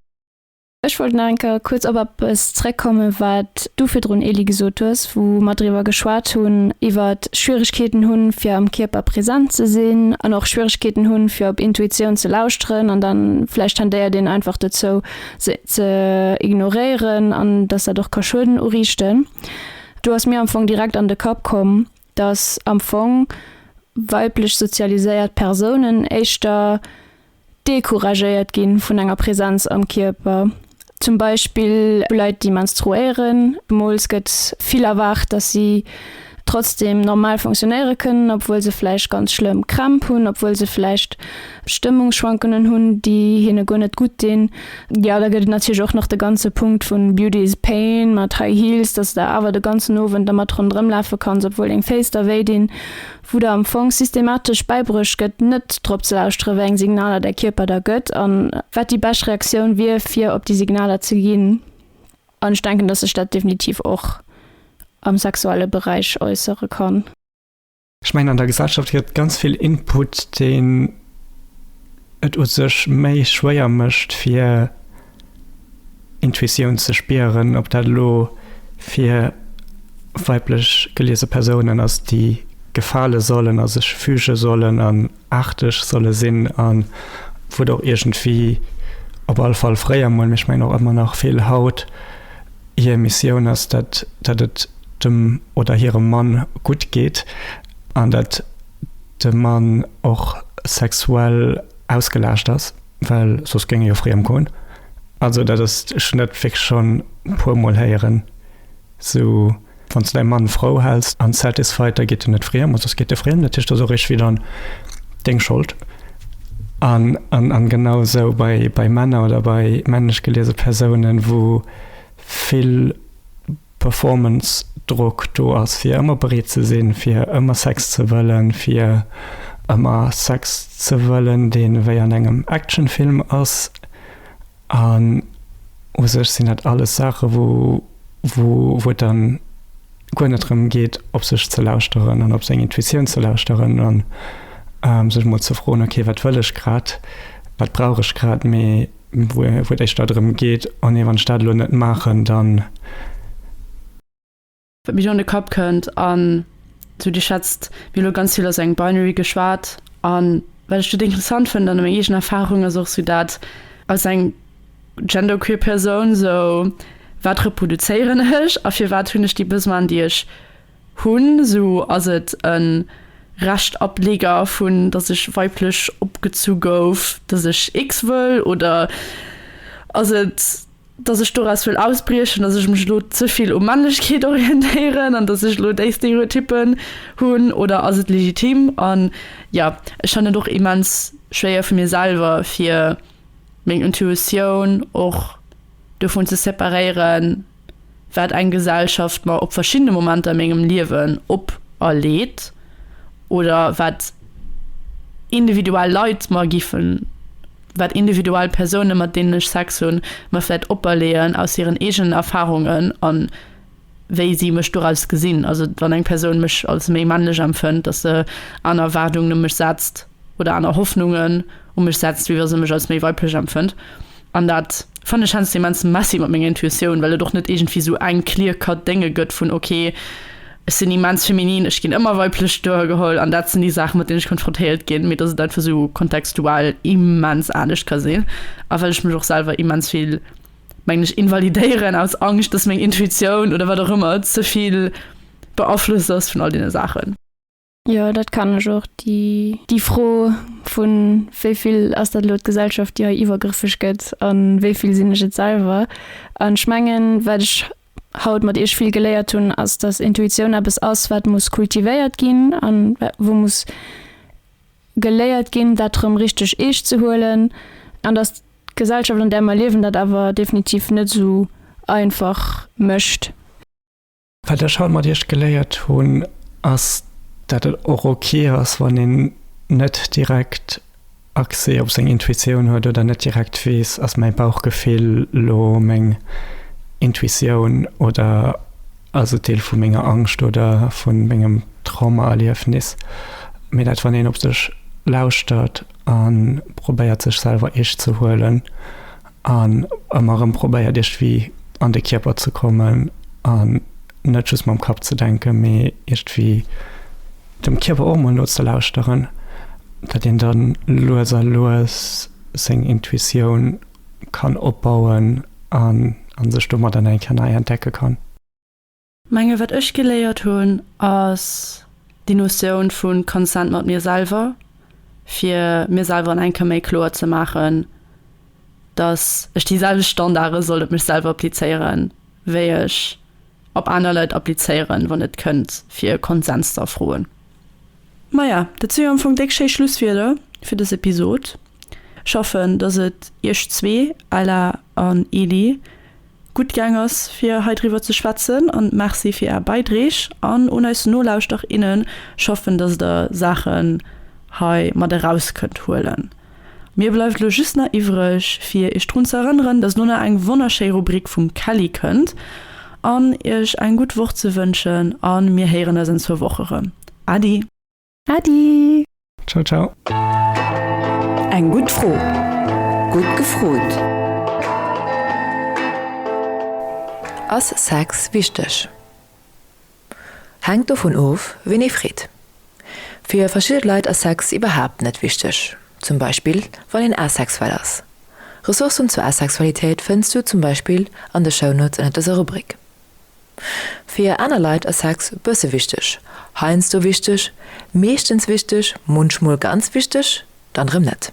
Ech wollt nach eng Kéier kuerz op eppes zréckkommen, wat du virdrun, Elie, gesot hues, wou mer driwwer geschwat hunn, iwwer Schwieregkeeten hunn, fir am Kierper präsent ze sinn an och Schwieregkeeten hunn, fir op Intuitioun ze lauschteren an dann vläicht tendéiert een einfach dozou, se ze ignoréieren an dass dat och ka Schueden uriichten. Do ass mir am Fong direkt an de Kapp komm, dass am Fong weiblech sozialiséiert Persounen éischter decouragéiert gi vun enger Präsenz am Kierper. Zum Beispill vu Leit, déi menstruéieren. Zemools gëtt vill erwaart, dass si trotzdeem normal funktionéiere kënnen, obwuel se vläicht ganz schlëmm Krämp hunn, obwuel se vläicht Stëmmungsschwankungen hunn, déi hinne guer net gutt dinn. Jo, da gëtt et natierlech och nach de ganze Punkt vun Beauty is Pain mat High Heels, dass der awer de ganzen Owend dermat ronderëm lafe kanns, obwuel deng Féiss da wéi dinn, wou der am Fong systematesch bäibruecht gëtt, net drop ze lauschteren, wéi eng Signaler däi Kierper der gëtt an wat déi bescht Reaktioun wier, fir op déi Signaler ze ginn. An ech denken, dass sech dat definitiv och am sexuelle Beräich äussere kann. Ech mengen an der Gesellschaft gëtt ganz vill Input, deen et u sech méi schwéier mécht fir Intuitioun ze spieren, ob dat elo fir weiblech geliese Persounen ass, déi gefale sollen a sech füge sollen an, aarteg solle sinn a wou et och iergendwéi, op alle Fall fréier emol, mee ech mengen och ëmmer nach vill haut, hir Missioun ass, dat dat et dem oder hirem Mann gutt geet an dat de Mann och sexuell ausgelaascht ass, well soss géing e jo fréi ëmgoen. Also dat ass, ech hunn dat wierklech schonn e puermol héieren. Sou wann s de däi Mann frou häls an satisfied, da geet en net friem, oder sos geet e friem. Dat heescht, ass och eréischt widder deng Schold. An genau esou bei Männer oder bei männlech geliese Persounen, wou vill Performance-Drock do ass, fir ëmmer bereet ze sinn, fir ëmmer Sex ze wëllen, fir ëmmer Sex ze wëllen, dee wéi an engem Action-Film ass. An u sech sinn dat alles Saache wou et dann guer net drëm geet op sech ze lauschteren an op seng Intuitioun ze lauschteren an sech emol ze froen, ok wat wëll ech grad, wat brauch ech grad, mee wou et éischter drëm geet, oh nee wann ech dat elo net maachen dann. Wat mir do an de Kapp kënnt, an esou Dir schätzt, mir hu lo ganz vill aus engem Binary geschwat, a wat ech dote interessant fënnt an meng eegen Erfarung ass och esou dat, als eng genderqueer Persoun, esou wat reproduzéieren ech a firwat hunn ech déi Besoinen, déi ech hunn? Esou ass et e Reschtableger vun, datt ech weiblech opgezu gouf, datt ech X wëll, oder ass et, dass ech doraus wëll ausbriechen, dass ech mech elo ze vill u Männlechkeet orientéieren an dass ech elo déi Stereotyppen hunn oder ass et legitim? An jo, ech fannen et och immens schwéier fir mir selwer fir meng Intuitioun och dovun ze separéieren, wat eng Gesellschaft mer op verschiddene Momenter a mengem Liewen operleet oder wat individuell Leit mer giffen. wat individuell Persounen, mat deenen ech Sex hunn, mer vläit operleeën aus hiren eegenen Erfarungen a wéi si mech doraus gesinn. Also wann eng Persoun mech als méi männlech empfënnt, dass se aner Erwaardungen u mech setzt oder aner Hoffnungen u mech setzt, wéi wa se mech als méi weiblech empfënnt. An dat Fannen ech hänst immens messy mat menger Intuitioun, well et och net iergendwéi sou eng clear cut Dénge gëtt vun ok, ech sinn immens feminin, ech ginn ëmmer weiblech duergeholl an dat sinn déi Saachen mat deenen ech konfrontéiert ginn, mee dass et einfach sou kontextual immens anescht ka sinn a well ech mech och selwer immens vill, mengen ech, invalidéieren aus Angscht, dass meng Intuitioun oder wat och ëmmer ze vill beaflosst ass vun all deene Saachen. Jo, dat kann ech och. Déi Fro vu wéi vill ass dat elo d'Gesellschaft, déi hei iwwergrëffeg gëtt, a wéi vill sinn ech et selwer? An ech mengen, wat ech haut mat iech vill geléiert hunn, ass, datt Intuitioun eppes ass, wat muss kultivéiert ginn a wou muss geléiert ginn, dat erëm richteg eescht ze huelen. An datt d'Gesellschaft, an där mer liewen, dat awer definitiv net esou einfach mécht. Wat ech haut mat iech geléiert hunn, ass dat et och ok ass, wann een net direkt Accès op seng Intuitioun huet oder net direkt weess, ass mäi Bauchgefill lo meng Intuitioun oder ass et Deel vu menger Angscht oder vu mengem Traumaerliefnis. Mee dat wann een op sech lauschtert a probéiert sech selwer eescht ze huelen An ëmmer erëm probéiert Iech wéi an de Kierper ze kommen an net just mam Kapp ze denken, mee Iech wéi dem Kierper och mol nozelauschteren, dat een dann lues a lues seng Intuitioun kann opbauen an sech domat an enker nei entdecke kann. Menge wat ech geléiert hunn ass déi Notioun vu Consent mat mir selwer, fir mir selwer an eng Kéier méi kloer ze maachen, dass ech déi selwecht Standarde soll op mech selwer applizéiere wéi ech op aner Leit applizéieren, wann et kënnt fir e Konsens ze erfroen. Maja, dat si jo am Fong déck schéi Schlusswierder fir dës Episod. Ech hoffen, dass et iech zwee, Ella an Eli, gutt gaang ass fir hei driwwer ze schwätzen an Merci fir Är Beidreeg an un eis Nolauschterer innen. Ech hoffen dass Der Saachen hei mat eraus kënnt huelen. Mir bleift elo just nach iwwreg fir Iech drun ze erënneren dass elo nach eng wonnerschéi Rubrik vum Kelly kënnt an Iech eng gutt Woch ze wënschen an mir héieren eis an zwou Woch erëm. Adi! Adi! Ciao ciao! Eng gutt Fro, gutt gefrot! Ass Sex wichteg? Hänkt dovun of, wien ee freet. Fir verschidde Leit ass Sex iwwerhaapt net wichteg, zum Beispill wann een asexuell ass. Ressourcen zur Asexualitéit fënns du zum Beispill an de Shownotes ënner dëser Rubrik. Fir aner Leit ass Sex bësse wichteg, heiansdo wichteg, meeschtens wichteg, munchmol ganz wichteg, dann erëm net.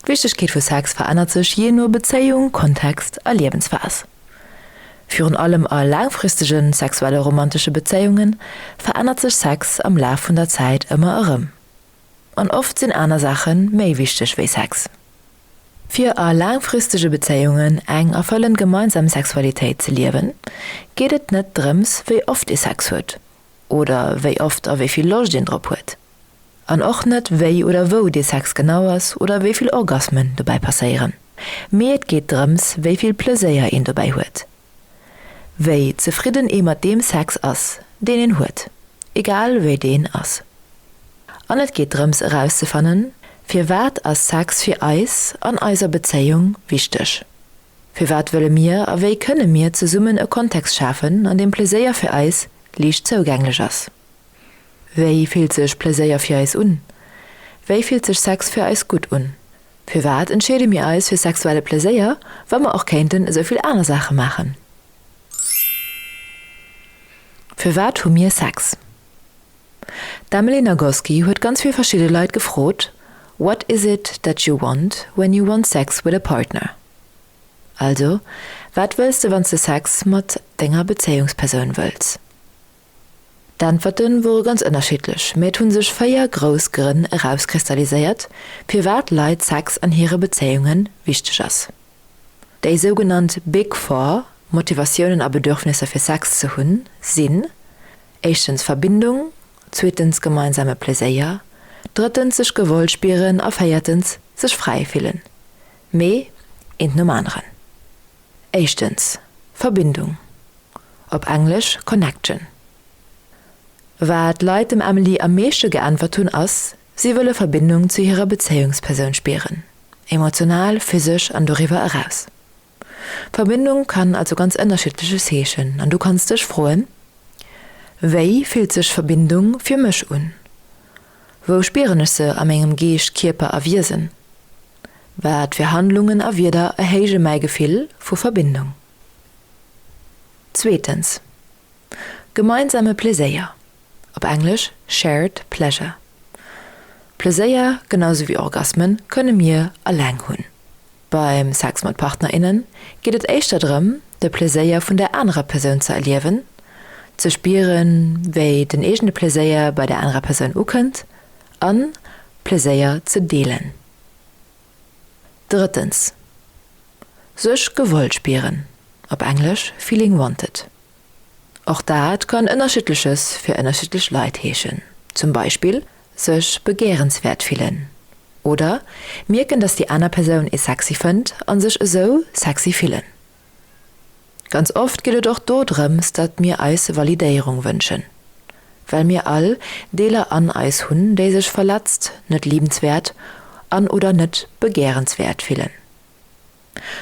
D'Wichtegkeet vu Sex verännert sech jee no Bezéiung, Kontext a Liewensphas. Virun allem a laangfristege sexuelle romantesche Bezéiunge verännert sech Sex am Laf vun der Zäit ëmmer erëm. An oft sinn aner Saache méi wichteg wéi Sex. Fir a laangfristege Bezéiungen eng erfëllend gemeinsam Sexualitéit ze liewen, geet et net drëms, wéi oft ee Sex huet oder wéi oft a wéi vill Loscht een drop huet. An och net, wéi oder wou dee Sex genau ass oder wéi vill Orgasmen dobäi passéieren. Mee et geet drëms, wéi vill Pleséier een dobäi huet. wéi zefridden ee mat deem Sex ass, deen een huet, egal wéi deen ass. An et geet drëms erauszefannen, firwat ass Sex fir eis an eiser Bezéiung wichteg? Firwat wëlle mir a wéi kënne mir zesummen e Kontext schafen, an deem Pleséier fir eis liicht zougänglech ass? Wéi fillt sech Pleséier fir eis un? Wéi fillt sech Sex fir eis gutt un? Firwat entscheede mir eis fir sexuelle Pleséier, wa mer och kéinten esou vill aner Saache maachen? Firwat hu mir Sex? D'Emily Nagoski huet ganz vill verschidde Leit gefrot, What is it that you want when you want sex with a partner? Also, wat wëlls de wann s de Sex mat denger Bezéiungspersoun wëlls? D'Äntwerte wore ganz ënnerschiddlech, mä et hu sech véier grouss Grënn erauskristalliséiert, firwat Leit Sex an hire Bezéiunge wichteg ass. Déi sougenannt Big Four Motivatiounen a Bedürfnisser fir Sex ze hunn sinn, éischtens Verbindung, zweetens gemeinsame Pleséier, drëttens sech gewollt spieren a véiertens sech fräi fillen. Mee eent nom aneren. Éischtens, Verbindung, op Englesch connection. Wat d'Leit dem Emily am meeschte geäntwert hunn ass, si wëlle Verbindung zu hirer Bezéiungspersoun spieren, emotional, physesch an doriwwer eraus. Verbindung kann also ganz ënnerschiddleches heeschen an du kanns dech froen, Wéi fillt sech Verbindung fir mech un? Wou spieren ech se a mengem Geescht, Kierper a Wiesen? Wat fir Handlungen a Wierder erhéije mäi Gefill vu Verbindung? Zweetens, gemeinsame Pleséier, op Englesch, shared pleasure. Pleséier, genau sou wéi Orgasmen, kënne mir alleng hunn. Beim Sex mat Partnerinnen geet et éischter drëm, de Pleséier vun der anerer Persoun ze erliewen, ze spieren, wéi den eegene Pleséier bei der anerer Persoun ukënnt an Pleséier ze deelen. Drëttens, sech gewollt spieren, op Englesch feeling wanted. Och dat kann Ënnerschiddleches fir ënnerschiddlech Leit heeschen, zum Beispill sech begärenswäert fillen oder mierken, dass déi aner Persoun ee sexy fënnt a sech esou sexy fillen. Ganz oft geet et och do drëms, datt mir eis Validéierung wënschen, well mir all Deeler an eis hunn, déi sech verletzt, net liebenswäert an oder net begärenswäert fillen.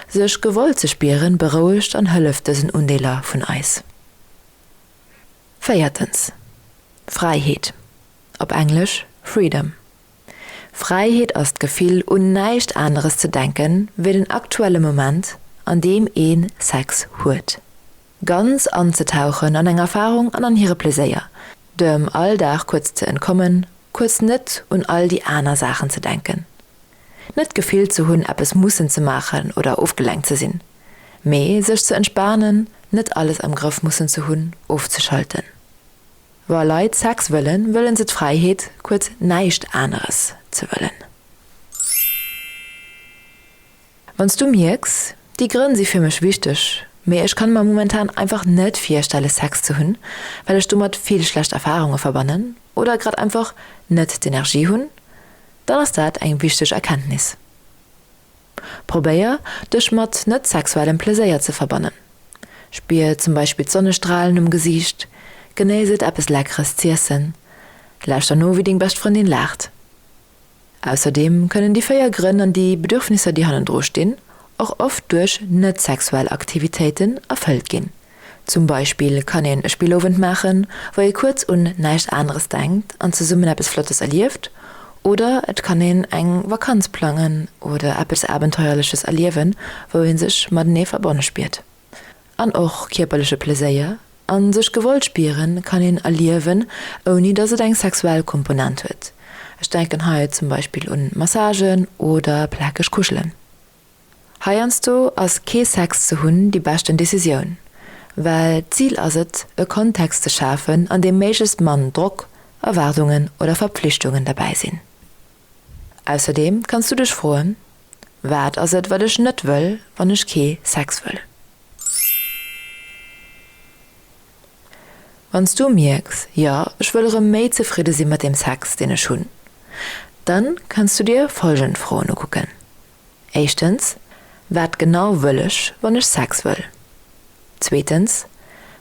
Sech gewollt ze spieren berouegt an hëlleft dësen Undeeler vun eis. Véiertens, Fräiheet, op Englesch freedom. Fräiheet ass d'Gefill un näischt aneres ze denke wéi den aktuelle Moment an deem ee Sex huet. Ganz anzetauchen an eng Erfarung an an hire Pleséier, dem Alldag kuerz ze entkommen, kuerz net un all déi aner Saachen ze denken. Net d'Gefill ze hunn eppes mussen ze maachen oder ofgelenkt ze sinn. Mee sech ze entspanen, net alles am Grëff mussen ze hunn, ofzeschalten. Wa Leit Sex wëllen, wëllen se d'Fräiheet, kuerz näischt aneres ze wëllen. Wann s du mierks, déi Grënn si fir mech wichteg, mee ech kann mer momentan einfach net virstelle Sex ze hunn, well ech domat vill schlecht Erfarunge verbannen oder grad einfach net d'Energie hunn, dann ass dat eng wichteg Erkenntnis. Probéier, dech mat net sexuellem Pleséier ze verbannen. Spier zum Beispill d'Sonnestralen um Gesiicht, genéiss et eppes Leckeres z'iessen, lauschter no wéi deng bescht Frëndin laacht. Ausserdeem kënnen déi véier Grënn an déi Bedürfnisser déi hannendru stinn och oft duerch net sexuell Aktivitéiten erfëllt ginn. Zum Beispill kann een e Spillowend maachen, wou ee kuerz un näischt aneres denkt an zesummen eppes Flottes erlieft. Oder et kann een eng Vakanz plangen oder eppes Abenteuerleches erliewen, wou ee sech matenee verbonne spiert. An och kierperleche Pleséier a sech gewollt spiere kann een erliewen, ouni datt et eng sexuell Komponent huet. Ech denken hei zum Beispill un Massagen oder plakeg Kuschelen. Heiansdo ass kee Sex ze hunn déi beschten Decisioun, well d'Zil ass et, e Kontext ze schafen, an deem méiglechst mann Drock, Erwaardungen oder Verpflichtungen derbäi sinn. Ausserdeem kanns du dech froen, Wat ass et, wat ech net wëll, wann ech kee Sex wëll? Wann s du mierks, jo, ech wëll erëm méi zefridde si mat dem Sex, deen ech hunn, dann kanns du dir folgend Froen ukucken, Éischtens, Wat genau wëll ech, wann ech Sex wëll? Zweetens,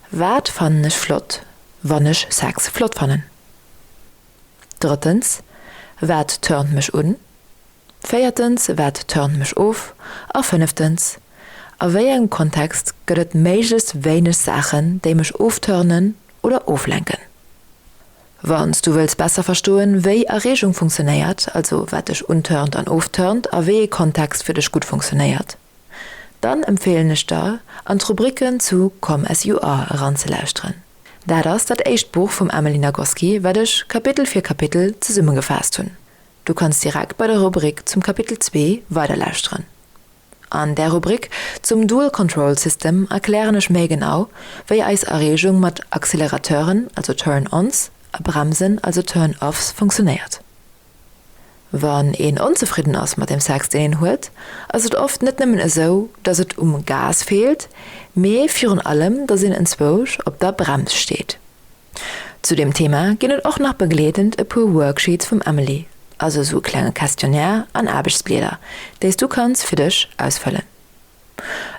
Wat fannen ech flott, wann ech Sex flott fannen? Drëttens, Wat turnt mech un? Véiertens, Wat turnt mech of? A fënneftens, A wéi engem Kontext gëtt et méiglechst wéineg Saachen, déi mech ofturnen oder oflenken? Wann s du wëlls besser verstoen, wéi Erreegung funktionéiert, also wat dech unturnt an ofturnt a wéi ee Kontext fir dech gutt funktionéiert, Dann empfeelen ech der, an d'Rubriken zu Come As You Are eranzelauschteren. Dat ass dat éischt Buch vum Emily Nagoski, wat ech Kapitel fir Kapitel zesummegefaasst hunn. Du kanns direkt bei der Rubrik zum Kapitel zwee weiderlauschteren. An där Rubrik zum Dual Control System erklären ech méi genau, wéi eis Erreegung mat Accelerateuren, also Turn-ons, a Bremsen, also Turn-offs, funktionéiert. Wann een onzefridden ass mat dem Sex, deen een huet, ass et oft net nëmmen esou, dass et um Gas feelt, mee virun allem, dass een enzwousch op der Brems steet. Zu deem Thema ginn et och nach begleedend e puer Worksheets vum Emily, also esou e klenge Questionnaire an Aarbechtsblieder, déi s du kanns fir dech ausfëllen.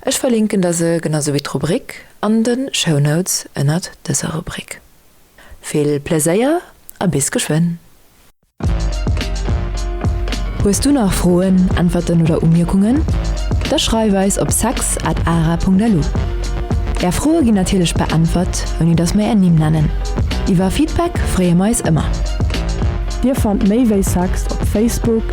Ech verlinken der se, genau sou wéi d'Rubrik, an de Shownotes ënnert dëser Rubrik. Vill Pleséier a bis geschwënn! Hues du nach Froen, Äntwerten oder Umierkungen? Da schreif eis op sex at ara.lu. Är Froe ginn natierlech beäntwert, ouni datt mir är Nimm nennen. Iwwer Feedback freeë mer eis ëmmer. Dir fannt méi wéi sex op Facebook.